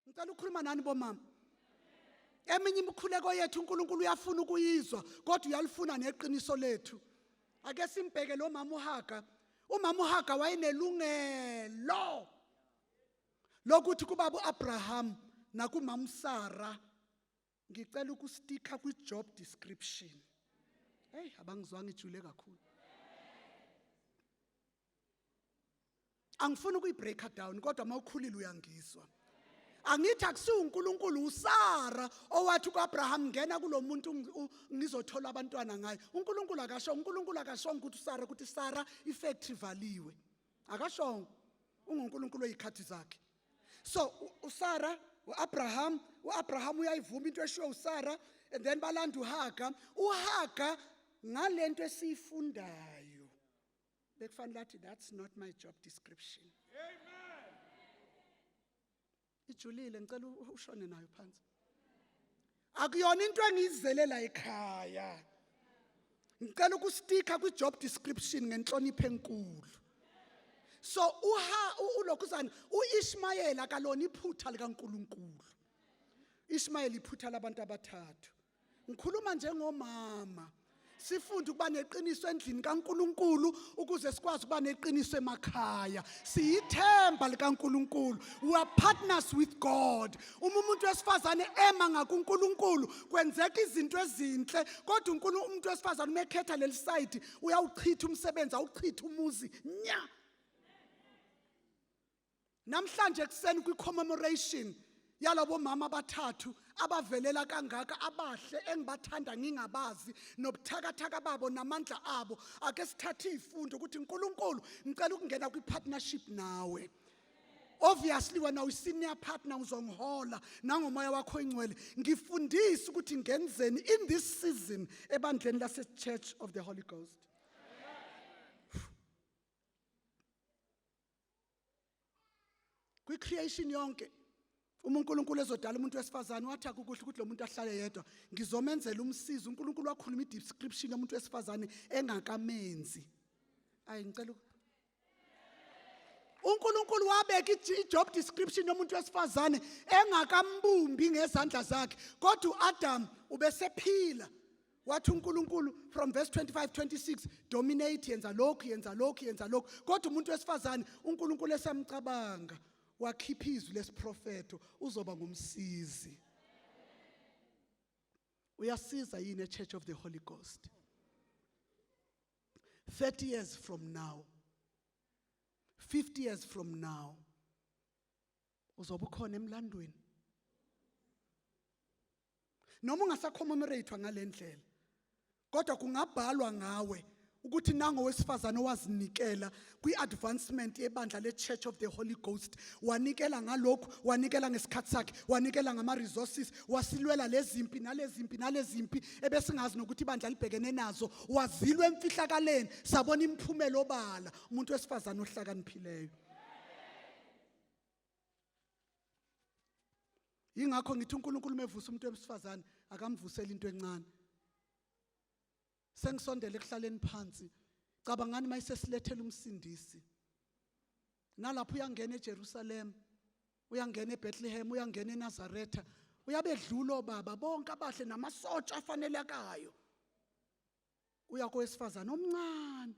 ngicela ukukhuluma nani bomama eminye imikhuleko yethu uNkulunkulu uyafuna ukuyizwa kodwa uyalifuna neqiniso lethu ake simbheke lo mama uHaga umama uHaga wayenelungelo lokuthi kubaba uAbraham nakumama uSara ngicela ukustika kwi job description hey abangizwanga ijule kakhulu angifuni ukuyibreaker down kodwa uma ukhulile uyangizwa angithi akusiwo uNkulunkulu uSara owathi kuAbraham ngena kulomuntu ngizothola abantwana ngaye uNkulunkulu akasho uNkulunkulu akasho ukuthi uSara ukuthi Sara ifactory valiwe akasho unguNkulunkulu oyikhathi zakhe so usara uabraham uabraham uyayivuma into eshiwo usara and then balanda uhaga uhaga ngale nto esiyifundayo bekufanele athi that's not my job description amen ijulile ngicela ushone nayo phansi akuyona into engiyizele la ekhaya ngicela ukustika kwi job description ngenhlonipho enkulu so uha ulokhuzana uIshmayela kalona iphutha likaNkuluNkulu Ishmayela iphutha labantu abathathu ngikhuluma njengomama sifunde ukuba neqiniso endlini kaNkuluNkulu ukuze sikwazi ukuba neqiniso emakhaya siyithemba likaNkuluNkulu we are partners with God uma umuntu wesifazane ema ngakuNkuluNkulu kwenzeka izinto ezinhle kodwa uNkulunkulu umuntu wesifazane uma ekhetha leli side uyawuchitha umsebenzi awuchitha umuzi nya namhlanje ekuseni kwi-commemoration yalabo mama abathathu abavelela kangaka abahle engibathanda ngingabazi nobuthakathaka babo namandla abo ake sithathe izifundo ukuthi uNkulunkulu ngicela ukungena kwi-partnership nawe obviously wena uyi-senior partner uzongihola nangomoya wakho ingcwele ngifundise ukuthi ngenzeni in this season ebandleni lase-church of the holy ghost kwi creation yonke uma uNkulunkulu ezodala umuntu wesifazane wathi akukuhle ukuthi lo muntu ahlale yedwa ngizomenzela umsizi uNkulunkulu wakhuluma i-description yomuntu wesifazane engakamenzi ayi ngicela uNkulunkulu wabeka i-job description yomuntu wesifazane engakambumbi ngezandla zakhe kodwa uAdam ubesephila wathi uNkulunkulu from verse 25 26 dominate yenza lokhu yenza lokhu yenza lokhu kodwa umuntu wesifazane uNkulunkulu esamcabanga wakhipha izwi lesiprofeto uzoba ngumsizi uyasiza yini echurch of the holy ghost 30 years from now 50 years from now uzobe ukhona emlandweni noma ungasacommemoratwa ngalendlela kodwa kungabhalwa ngawe ukuthi nango wesifazane owazinikela kwi-advancement yebandla le-church of the holy ghost wanikela ngalokhu wanikela ngesikhathi sakhe wanikela ngama-resources wasilwela lezimpi nalezimpi nalezimpi ebesingazi nokuthi ibandla libhekene nazo wazilwa emfihlakaleni sabona imiphumela obala umuntu wesifazane ohlakaniphileyo ingakho ngithi uNkulunkulu mevusa umuntu wesifazane akamvuseli into encane sengisondela ekuhlaleni phansi cabangani mayisesilethela umsindisi nalapho uyangena eJerusalem uyangena eBethlehem uyangena eNazaretha uyabedlula obaba bonke abahle namasotsha afanelekayo uya kowesifazane omncane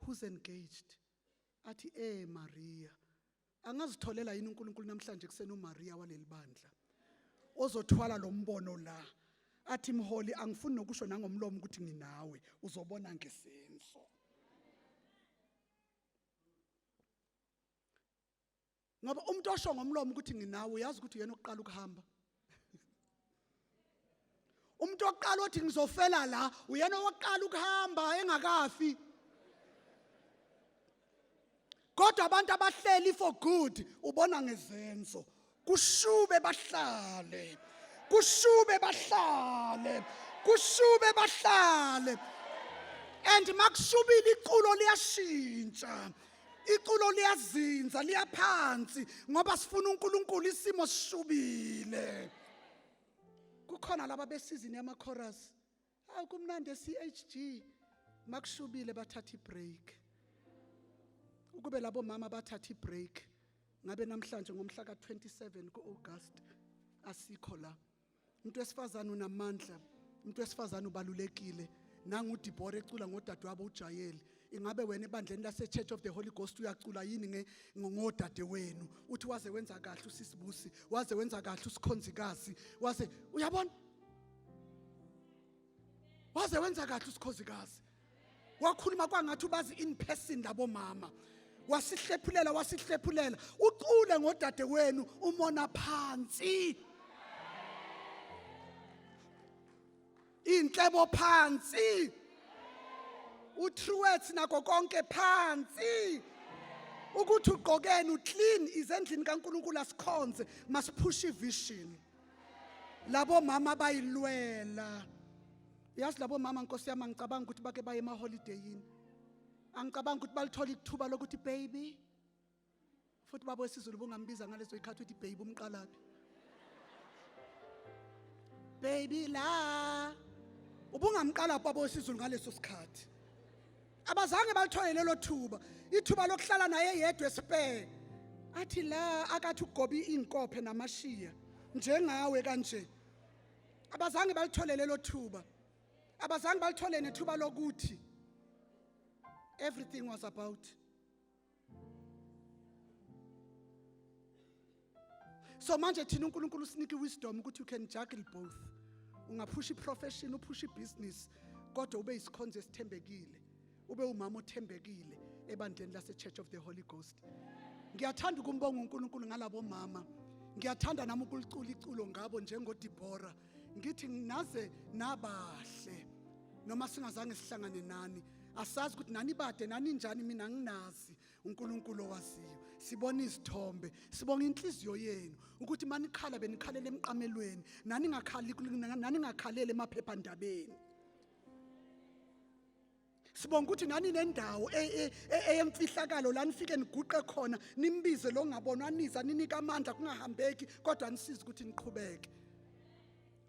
who's engaged athi eh Maria angazitholela yini uNkulunkulu namhlanje kusena uMaria waleli bandla ozothwala lo mbono la athi mholi angifuni nokusho nangomlomo ukuthi nginawe uzobona ngesenzo ngoba umuntu osho ngomlomo ukuthi nginawe uyazi ukuthi uyena oqala ukuhamba umuntu oqala othi ngizofela la uyena oqala ukuhamba engakafi kodwa abantu abahleli for good ubona ngezenzo kushube bahlale kushube bahlale kushube bahlale and makushubile iculo liyashintsha iculo liyazinza liyaphansi ngoba sifuna uNkulunkulu isimo sishubile kukhona laba besizini yama chorus hawu kumnandi eCHG makushubile bathatha ibreak ukube labo mama bathatha ibreak ngabe namhlanje ngomhla ka27 kuAugust asikho la umuntu wesifazane unamandla umuntu wesifazane ubalulekile nangudibhora ecula ngodadewabo ujayeli ingabe wena ebandleni lase-church of the holy ghost uyacula yini ngodade wenu uthi waze wenza kahle usisibusi waze wenza kahle usikhonzikazi waze uyabona waze wenza kahle usikhozikazi wakhuluma kwangathi ubazi in person labo mama wasihlephulela wasihlephulela uqule ngodade wenu umona phansi inhlebo phansi utruet nako konke phansi ukuthi ugqokeni uclean izendlini kaNkuluNkulu asikhonze masiphushe ivision labo mama bayilwela yazi labo mama nkosi yami angicabanga ukuthi bake baye emaholideyini angicabanga ukuthi balithola ithuba lokuthi baby futhi babo isizulu bungambiza ngalezo ikhathi uthi baby umqalaphi baby la ubungamqalaphi babo isizulu ngaleso sikhathi abazange balithole lelo thuba ithuba lokuhlala naye yedwa esibheke athi la akathi ugobi inkophe namashiya njengawe kanje abazange balithole lelo thuba abazange balithole nethuba lokuthi everything was about so manje thina uNkulunkulu usinike wisdom ukuthi you can juggle both ungaphusha iprofession uphusha ibusiness kodwa ube isikhonzo esithembekile ube umama othembekile ebandleni lase Church of the Holy Ghost ngiyathanda ukumbonga uNkulunkulu ngalabo mama ngiyathanda nami ukulicula iculo ngabo njengoDibora ngithi naze nabahle noma singazange sihlangane nani asazi ukuthi nani bade nani njani mina nginazi uNkulunkulu owaziyo sibona izithombe sibonga inhliziyo yenu ukuthi manikhala benikhalela emqamelweni nani ngakhali nani ngakhalele emaphephandabeni sibonga ukuthi nani nendawo e, e, e, eyemfihlakalo la nifike niguqe khona nimbize lo ngabonwa niza ninika amandla kungahambeki kodwa nisize ukuthi niqhubeke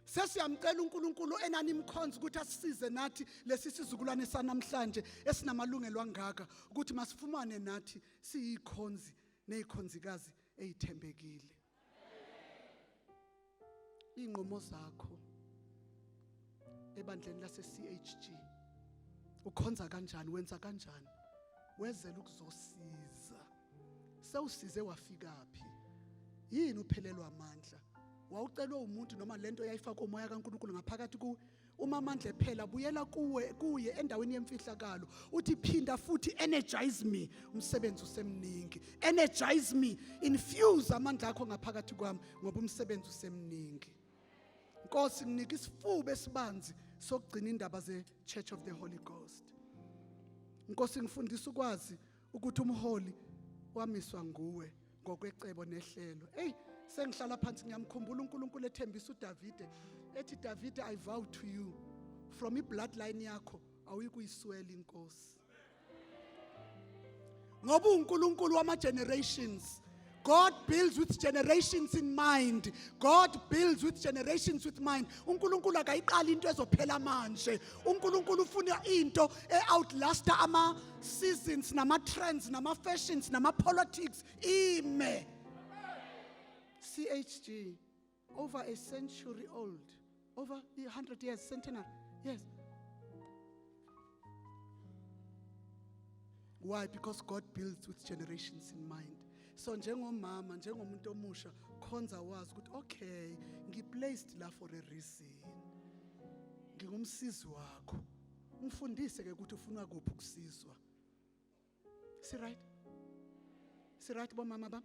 sesiyamcela uNkulunkulu enanimkhonza ukuthi asisize nathi lesi sizukulwane sanamhlanje esinamalungelo angaka ukuthi masifumane nathi siyikhonzi nezikhonzikazi ezithembekile Inqomo zakho ebandleni lase CHG ukhonza kanjani wenza kanjani wezela ukuzosiza sewusize wafika phi yini uphelelwa amandla wawucelwe umuntu noma lento yayifaka umoya kaNkuluNkulu ngaphakathi ku umamandla ephela buyela kuwe kuye endaweni yemfihlakalo uthi phinda futhi energize me umsebenzi usemningi energize me infuse amandla akho ngaphakathi kwami ngoba umsebenzi usemningi Nkosi nginika isifuba esibanzi sokugcina indaba ze Church of the Holy Ghost Nkosi ngifundisa ukwazi ukuthi umholi wamiswa nguwe ngokwecebo nehlelo eyi sengihlala phansi ngiyamkhumbula unkulunkulu ethembisa udavide ethi davide i vow to you from i-bloodline yakho awuyikuyiswela inkosi ngoba uNkulunkulu wama generations God builds with generations in mind. God builds with generations with mind. UNkulunkulu akayiqali into ezophela manje. UNkulunkulu ufuna into e-outlasta ama seasons nama trends nama fashions nama politics ime. CHG over a century old over 100 years centenary yes why because god builds with generations in mind so njengomama njengomuntu omusha khonza wazi ukuthi okay ngiplaced la for a reason ngingumsizi wakho ngifundise ke ukuthi ufuna kuphi ukusizwa si right si right bomama bam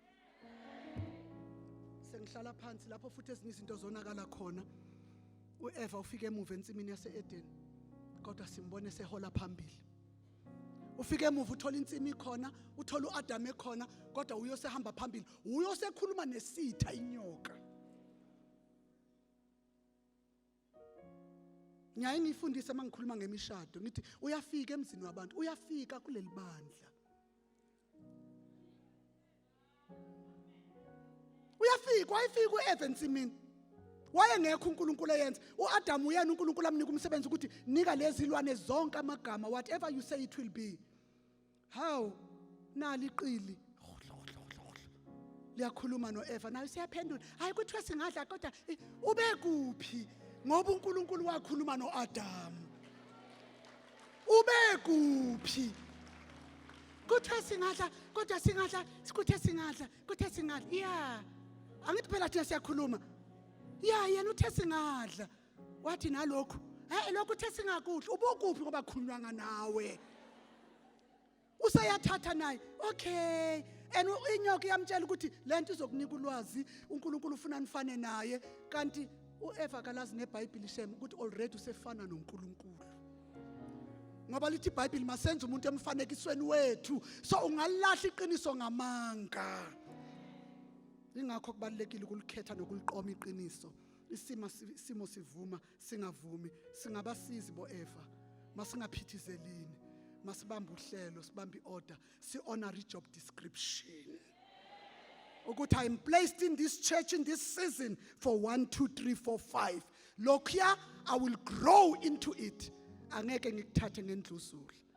sengihlala phansi lapho futhi ezinye izinto zonakala khona uEva ufike emuva ensimini yaseEden kodwa simbone sehola phambili ufike emuva uthola insimi khona uthola uAdam ekhona kodwa uyosehamba phambili uyosekhuluma nesitha inyoka ngiyaye ngiyifundise uma ngikhuluma ngemishado ngithi uyafika emzini wabantu uyafika kuleli bandla uyafika wayefika u-eve ensimini wayengekho unkulunkulu eyenza u-adamu uyena unkulunkulu amnika umsebenzi ukuthi nika lezi lwane zonke amagama whatever you say it will be Hawu nali iqili liyakhuluma noEva nayo siyaphendula hayi kuthiwa singadla kodwa eh, ubekuphi ngoba uNkulunkulu wakhuluma noAdam ubekuphi kuthiwa singadla kodwa singadla sikuthe singadla kuthe singadla yeah angithi phela thina siyakhuluma ya yena uthe singadla wathi nalokhu hey lokhu uthe singakudli ubokuphi ngoba khulunywanga nawe useyathatha naye okay and inyoka iyamtshela ukuthi lento izokunika ulwazi uNkulunkulu ufuna nifane naye kanti uEva kalazi neBhayibheli shem ukuthi already usefana noNkulunkulu ngoba lithi iBhayibheli masenze umuntu emfanekisweni wethu so ungalahla iqiniso ngamanga ingakho kubalekile ukulikhetha nokuliqoma iqiniso isimo isimo sivuma singavumi singabasizi boefa masingaphithizelini masibambe uhlelo sibambe iorder si-honor i-job description ukuthi i am placed in this church in this season for 1 2 3 4 5 lokhuya i will grow into it angeke ngikuthathe ngendluzula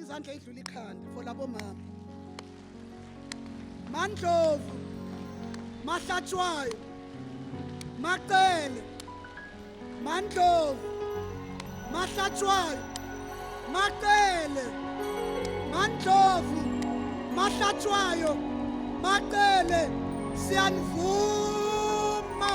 izandla idlula ikhanda for labo mama mandlovu mahlatshwayo macele mandlovu mahlatshwayo macele mandlovu mahlatshwayo macele siyanivuma